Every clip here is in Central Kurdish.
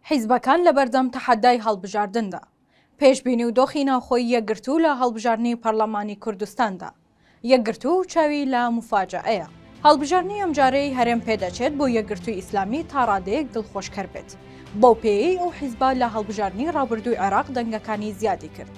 حیزبەکان لەبەردەم تەحەدای هەڵبژاردندا، پێشبینی و دۆخی ناوخۆی یەکگرتوو لە هەڵبژاردنی پەرلەمانی کوردستاندا، یەکگرتوو چاوی لە موفاجەئەیە. هەڵبژاردنی ئەمجارەی هەرێم پێدەچێت بۆ یەکگرتووی ئیسلامی تاڕادەیەک دڵخۆشکەر بێت، بەو پێیەی ئەو حیزبە لە هەڵبژاردنی ڕابردووی عێراق دەنگەکانی زیادی کرد،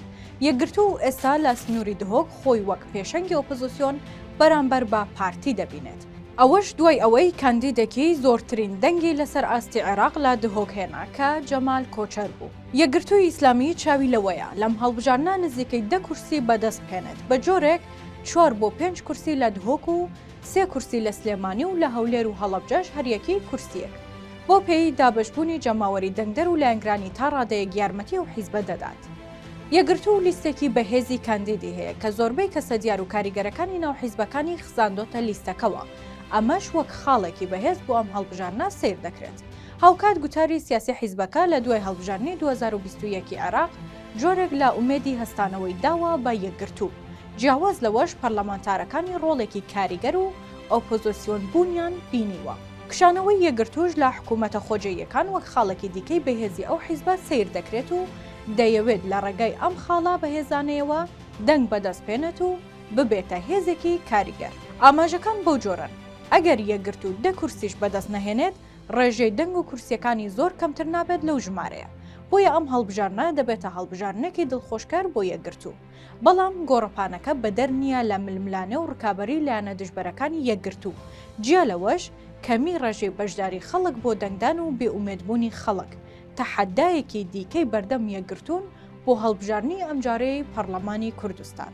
یەکگرتوو ئێستا لە سنووری دهۆک خۆی وەک پێشەنگی ئۆپۆزسیۆن بەرامبەر بە پارتی دەبینێت. ئەوەش دوای ئەوەی کاندیدێکی زۆرترین دەنگی لەسەر ئاستی عێراق لە دهۆک هێنا کە جەمال کۆچەر بوو. یەکگرتووی ئیسلامی چاوی لەوەیە لەم هەڵبژاردنە نزیکەی دە کورسی بەدەست بهێنێت بە جۆرێک چوار بۆ پێنج کورسی لە دهۆک و سێ کورسی لە سلێمانی و لە هەولێر و هەڵەبجەش هەریەکی کورسییەک بەو پێیەی دابەشبوونی جەماوەری دەنگدەر و لایەنگرانی تا ڕادەیەک یارمەتی ئەو حیزبە دەدات. یەکگرتوو لیستێکی بەهێزی کاندیدی هەیە کە زۆربەی کەسە دیار و کاریگەرەکانی ناو حیزبەکانی خزاندۆتە لیستەکەوە، ئەمەش وەک خاڵێکی بەهێز بۆ ئەم هەڵبژاردنە سەیر دەکرێت. هاوکات گوتاری سیاسی حیزبەکە لە دوای هەڵبژاردنی دوو هەزار و بیست و یەک ی عێراق جۆرێک لە ئومێدی هەستانەوەی داوە بە یەکگرتوو، جیاواز لەوەش پەرلەمانتارەکانی ڕۆڵێکی کاریگەر و ئۆپۆزسیۆن بوونیان بینیوە. کشانەوەی یەکگرتووش لە حکوومەتە خۆجێیەکان وەک خاڵێکی دیکەی بەهێزی ئەو حیزبە سەیر دەکرێت و، دەیەوێت لە ڕێگای ئەم خاڵە بەهێزانەیەوە دەنگ بەدەست بێنێت و ببێتە هێزێکی کاریگەر. ئاماژەکان بەو جۆرەن، ئەگەر یەکگرتوو دە کورسیش بەدەست نەهێنێت، ڕێژەی دەنگ و کورسییەکانی زۆر کەمتر نابێت لەو ژمارەیە، بۆیە ئەم هەڵبژاردنە دەبێتە هەڵبژاردنێکی دڵخۆشکەر بۆ یەکگرتوو، بەڵام گۆڕەپانەکە بەدەر نییە لە ململانێ و ڕکابەری لایەنە دژبەرەکانی یەکگرتوو، جیا لەوەش کەمی ڕێژەی بەشداری خەڵک بۆ دەنگدان و بێئومێدبوونی خەڵک، تەحەدایەکی دیکەی بەردەم یەکگرتوون بۆ هەڵبژاردنی ئەمجارەی پەڕڵەمانی کوردستان.